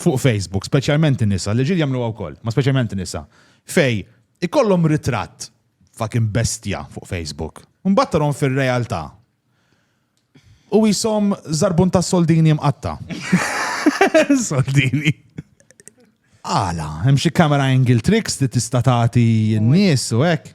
fuq Facebook, speċjalment in-nisa, l-irġiel jagħmluha wkoll, ma speċjalment in-nisa, fej ikollhom ritratt fucking bestja fuq Facebook. Mbagħad tarhom fir-realtà. U jisom zarbun ta' soldini mqatta. soldini. Għala, hemm xi camera angle tricks li tista' tagħti n-nies u hekk.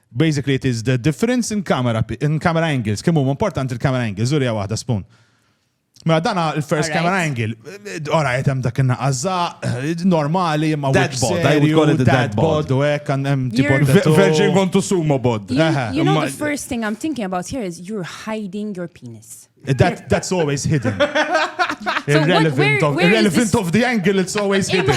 Basically it is the difference in camera, in camera angles, kemm huma importanti l-camera angles, urija waħda spoon. Mela dana il-first Alright. camera angle, ora qed hemm dak in-naqaża, normali imma Dad wiċċ bod, I would serju, call it a dad bod. u hekk għand hemm tipo You're- Ve- tattoo. Virgin kontu sumo bod. You, Aha. you know Ma- the first thing I'm thinking about here is you're hiding your penis. That, that's always hidden. irrelevant, so of, irrelevant this... of the angle, it's always hidden.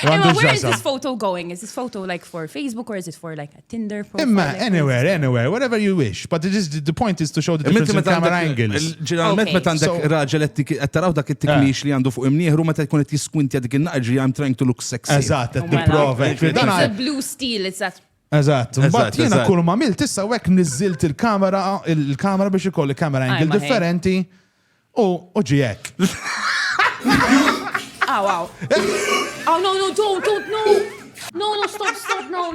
Imma, where is this photo going? Is this photo like for Facebook or is it for like a Tinder profile? Imma, anywhere, anywhere, whatever you wish. But is, the point is to show the difference in camera angles. Ġeneralment meta għandek raġel qed taraw dak it-tikmix li għandu fuq imnieħru meta jkun qed jiskwintja dik in-naqġi I'm trying to look sexy. Eżatt, qed tipprova. It's a blue steel, it's that Eżatt, imbagħad jiena kull ma milt issa hekk niżilt il-kamera il-kamera biex ikolli kamera angle differenti u u ġi hekk. Aw, aw. Aw, no, no, don't, don't, no. No, no, stop, stop, no,